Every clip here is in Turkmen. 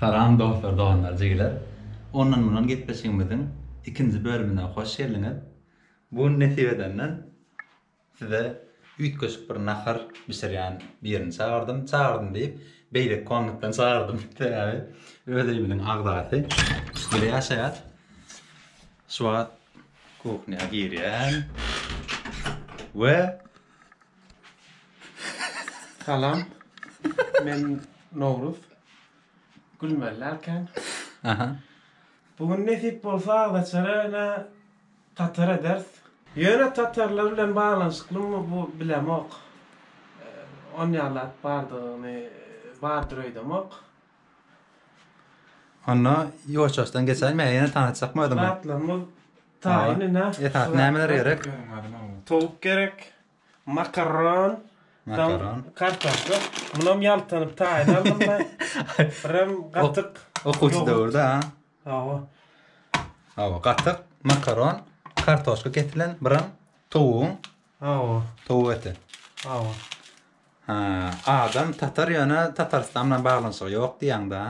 Salam dostlar doganlar jigiler ondan mundan gepleşigimiziň ikinji bölümine hoş geldiňiz bu gün nesip edenden Size üýtgeşik bir nahar bişirýän birini çagyrdym. Çagyrdym diýip, beýleki komnatdan çagyrdym. Sebäbi öz öýümiziň agzasy üstde ýaşaýar. Şu wagt kuhnýa girýän we Salam. Men Nowruz. Gülmeli dälkäň? Aha. Bu gün nesip bolsa agzaçara ene Tatar ederis. Ýöne tatarlar bilen baglanyşyklymy bu bilemok. Onýalap bardygyny bardyr öýdemok. Onda ýuwaş-ýuwaşdan geçäýin me ýene tanyşjakmy özüňi. Zatlarymyz taýyn ine. Esasy nämeler gerek? Towuk gerek. Makaron. Makaron. Kartoşka. Munam ýaltanyp taýyn aldym men. Birem gatyk. Okuwçy döwürde ha. Hawa. Hawa, gatyk, makaron, kartoşka kesilen, biram towugyň. Hawa. Towuk eti. Hawa. Ha, adam tatar ýöne Tatarystan bilen baglanyşygy ýok diýýäňda.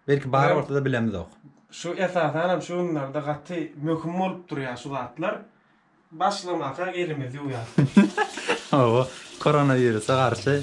Belki bar bolsa-da bilemizok. Şu esasanam şu günlerde gaty möhüm bolup durýar şu zatlar. Başlamaka elimizi ýuwýas. Hawa, koronawirusa garşy.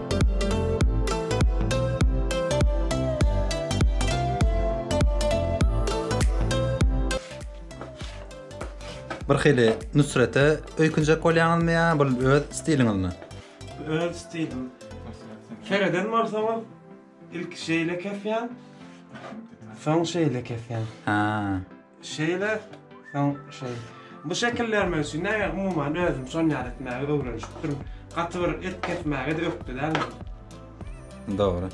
Bir hili Nusrete öýkünjek bolýaňyzmy ýa bu öz stiliňizmi? Öz stilim. Kereden barsaňyz, ilki şeýle kesýän, soň şeýle kesýän. Ha. Şeýle, soň şeý. Bu şekil bermek üçin näme umuman özüm şon ýaly etmäge öwrenişipdim. Gaty bir et kesmäge-de ökde däl men. Dogry.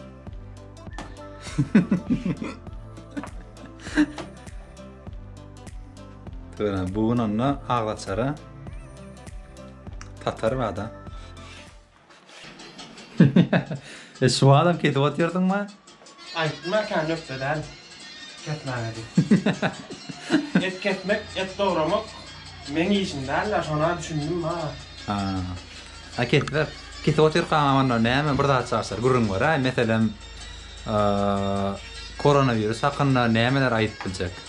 Töre, bu gün onda aglaçara tatar bada. E şuwadam kesip otyrdyňma? Aýtma kä nökde däl kesmäge diýip. Et kesmek, et dogramak meň işim däl-ä şona düşündim ha. Ha. A kesip, kesip otyrkaňam onda näme bir zat çaşdyr gürrüň ber-aý, meselem, koronawirus hakynda nämeler aýdyp biljek?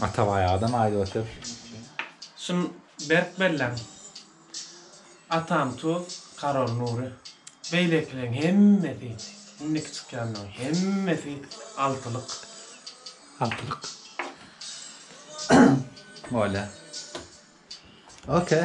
Atabaý adam aýdyp otyr. Şun berk belläň. Atam tuz, Karol Nury. Beýlekileň hemmesi, indiki çykýanlaň hemmesi altylyk. Altylyk. Bolýa. Okey.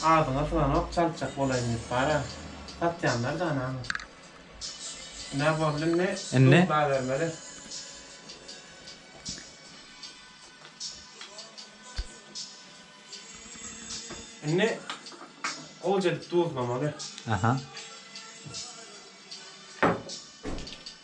Agzyňa syganok çaltjak bolaýyn diýip bara satýanlar da anaňy. Nä boldy indi? Indi? Doglabermeli. Indi gowja edip duzlamaly. Aha.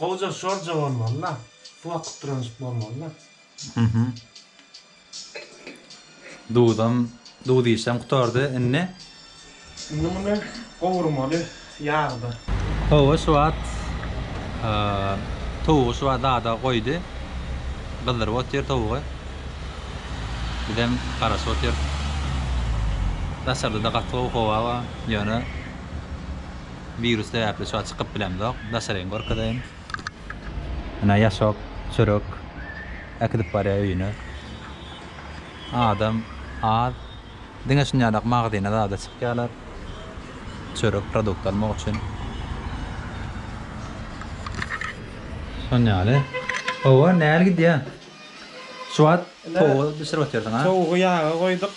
Gowja şorja bolmalyda bu wakyt duranjyk bolmalyda. Mhm. Duzam duz işem gutardy indi. Indi muny gowurmaly ýagda. Hawa şu wagt towugy şu wagt zada goýdy. Gyzdyryp otyr towugy. Bizem garaşyp otyrys. Daşarda-da gaty gowy howa bar ýöne. Wirus sebäpli şu an çykyp bilemzok. Daşaryny görkezeýin. Ine ýaşok, çörek äkidip barýar öýüne. Adam az. Diňe şunýalak magazine zada çykýarlar. Çörek, produkt almak üçin. Şonýaly. Hawa, näl gidýär? Şu wagt Ine, Towugy bişirip otyrsyň-a? towugy ýaga goýduk.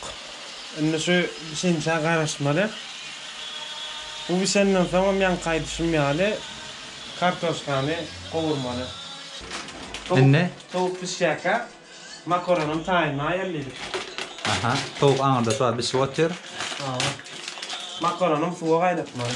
Indi şu bişençä garaşmaly. Bu bişenden soň hem ýaňky aýdyşym ýaly, kartoşkany gowurmaly. Towuk, Indi? towuk bişýärkä, makaronam taýynly aýallaýdyk. Aha, towuk aňyrda şu wagt bişip otyr. Hawa. Makaronam suwa gaýnatmaly.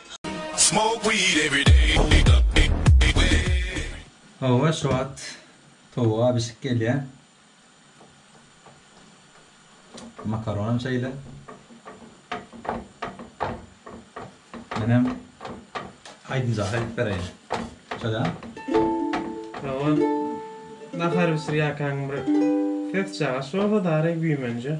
Hawa şu wagt towuk a bişip gelýä. Makaronam şeýle. Menem aýdymjak aýdyp bereýin. Şöyle. Hawa nahar bişirýäkäň bir ses çagyş bolsa dary güýmenje.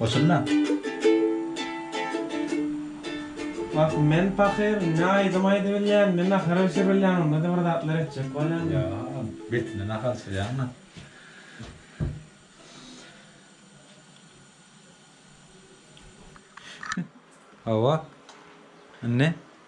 Oturna. Wah, men pahyr, ne aýdym aýdybilýän, ne nahara bişiribilýän, onda-da bir zatlar etjek bolýan. Ýa, betine nahar bişirýäňmi? Hawa. Indi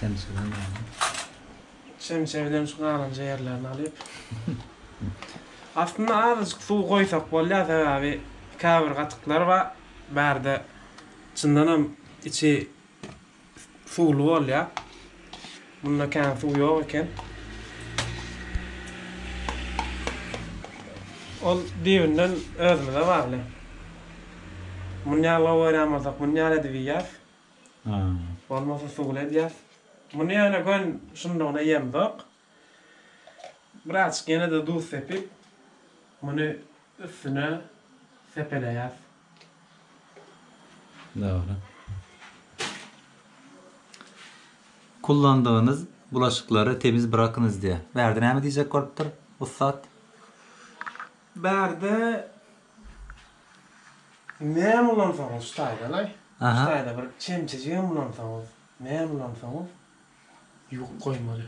Çemçeden alyň. Çemçe bilen şu galanja ýerlerini alyp. Aslynda azajyk suw goýsak bolýar, sebäbi käbir gatyklar bar, bärde çyndanam içi suwly bolýar. Munda kän suw ýok eken. Ol düýbünden özümize bagly. Muny ýaglaw görýän bolsak, muny ýaly edip iýýäs. Bolmasa suwly edýäs. Muny ýöne gön şundugyna ýemzok. Birazjyk ýene-de duz sepip, muny üstüne sepeleýäs. Dogry. Kullandygynyz bulaşyklary temiz brakynyz diýýär. Bärde näme diýjek bolupdyr, ussat? Bärde näme ulansaňyz şu taýdan-aý, şu taýda bir çemçejigem ulansaňyz, näme ulansaňyz, Ýuk goýmaly.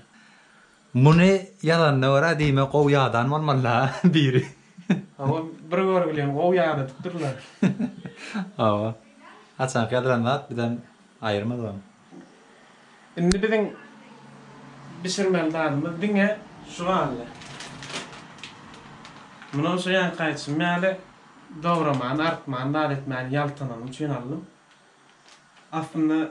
Muny ýazanyna görä diýmek gowy ýadan bolmalyda biri. Hawa bir görgülen gowy ýadadypdyrlar. Hawa. Haçanky ýazylan zat bizden aýyrmaz ony. Indi biziň bişirmeli zadymyz diňe şu galdy. Muny şo ýanky aýtşym ýaly dogramany, artmany, zat etmäni ýaltanyny üçin aldym. Aslynda.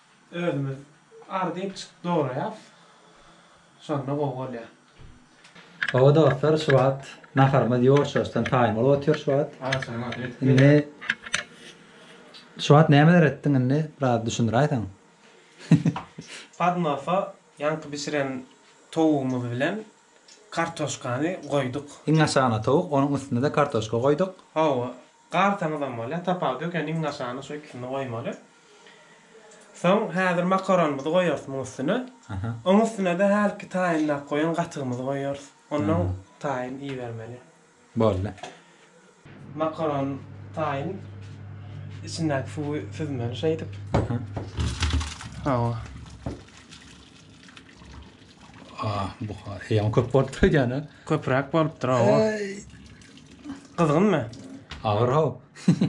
Özümiz ardyp çykyp dograýas. Şonda gowy bolýar. Hawa dostlar şu wagt naharymyz ýuwaşýuwaşdan taýyn bolup otyr şu wagt. Agşamyň agşamy ýetip gelýär. Indi şu wagt nämeler etdiň indi biraz düşündiräýseň. Podnosa ýaňky bişiren towugymyz bilen kartoşkany goýduk. Iň aşagyna towuk onuň üstüne-de kartoşka goýduk. Hawa Gartaňyzam bolýar, tapawudy ýok, ýöne iň aşagyna şu ikisini goýmaly. Soň häzir makaronymyzy goýarys muň üstüne. Oň üstüne-de hälki taýynlap goýan gatygymyzy goýarys. Onnoň taýyn ibermeli. Boldy. Makaron taýyn içindäki suwy süzmeli şeýdip. Hawa. Ah, buhar. Heýem köp bolupdyr edýän-ä. Köpräk bolupdyr, hawa. Gyzgynmy? Agyr, haw.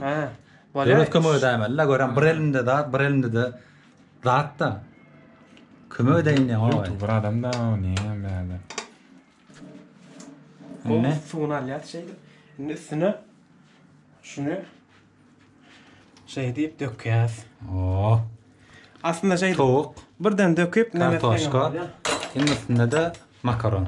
Hä. Döwlet kömek edäýmeli-le, görem, bir elinde zat, bir elinde-de zat-da. Kömek edäýin diýýän, howa. Ýuwtuber adam-da o, näme bärde. Indi suwuny alýas şeýdip. Indi üstüne şuny Şeý diýip dökýäs. Oo. Aslynda şeý towuk birden döküp kartoşka. Indi üstünde-de makaron.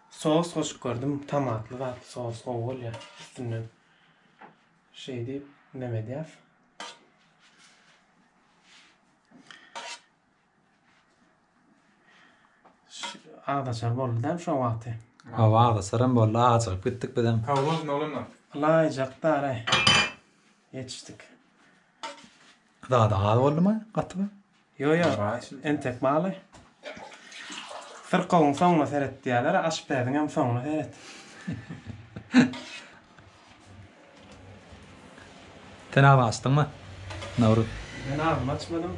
Sos goşup gördüm tomatly zat sos gowy bolýa üstünden şeý diýip nem edýas. Agdaçar boldy däl şo wagty. Hawa agdaçaram boldy acygyp gitdik bizem. Hawa bolsun oglanlar. Ylaýjak dara ýetişdik. Zady az boldumy gaty. Ýo ýo entek maly. Syrkawyň soňuna seret diýýäler aşpäziň hem soňuna seret. Sen agzyňy açdyňmy Nawruz. Men agzymy açmadym.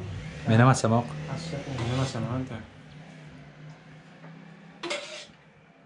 Menem açamok. Açjak indi. Menem açamok entek.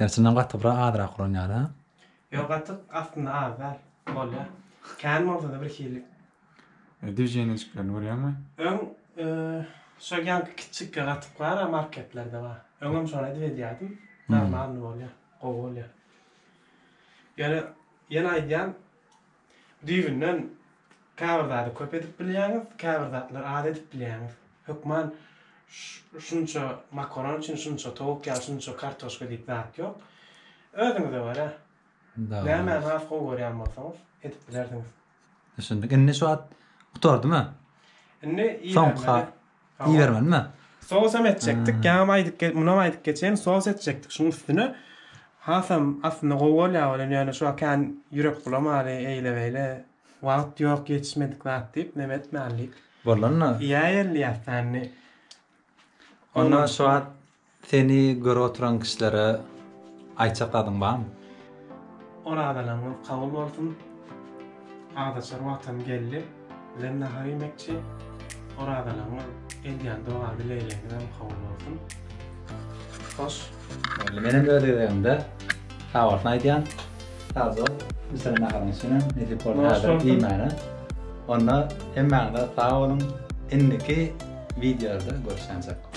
Erçinden gaty bir azrak uran ýaly ha. Ýok gaty aslynda az däl. Bolýar. Kän bolsada bir hili. Düwjenejiklerini görýäňmi? Öň şo ýaňky kiçjikki gatyklara marketlerde bar. Öňem şony edip edýärdim. Normalny bolýar. Gowy bolýar. Ýöne ýene aýdýan Düýbünden käbir zady köp edip bilýäňiz, käbir zatlary az edip bilýäňiz. Hökman şunça makaron üçin şunça towuk ýa şunça kartoşka diýip zat ýok. Özüňize görä nämäni has gowy görýän bolsaňyz edip bilersiňiz. Düşündik. Indi şu wagt gutardymy? Indi iýibermeli. Iýermenmi? Sosam etjekdik. Ýaňam aýdyp gelip, munam aýdyp geçeýin, sos etjekdik şuň üstüne. Hasam aslynda gowy bolýar welin, ýöne şu wagt kän ýürek bulamaly, eýle-beýle. Wagt ýok, ýetişmedik zat diýip, neme etmälidik. Bolanda. Iýäýeli ýassany. Onda şu wagt Seni gör oturan kişilere aýtjak zadyň barmy? Orazalaryňyz kabul bolsun. Agzaçar wagtam geldi. Bizem nahar iýmekçi. Orazalaryňyz, edýän doga dilegileňizem kabul bolsun. Hoş. Boldy. Menem öz gezegimde sag bolsun aýdýan. Sag bol. Bisenem naharyň üçinem nesip bolsa häzirem iýmäne. Onda hemmäňize sag boluň. Indiki wideolarda görüşýänçäk.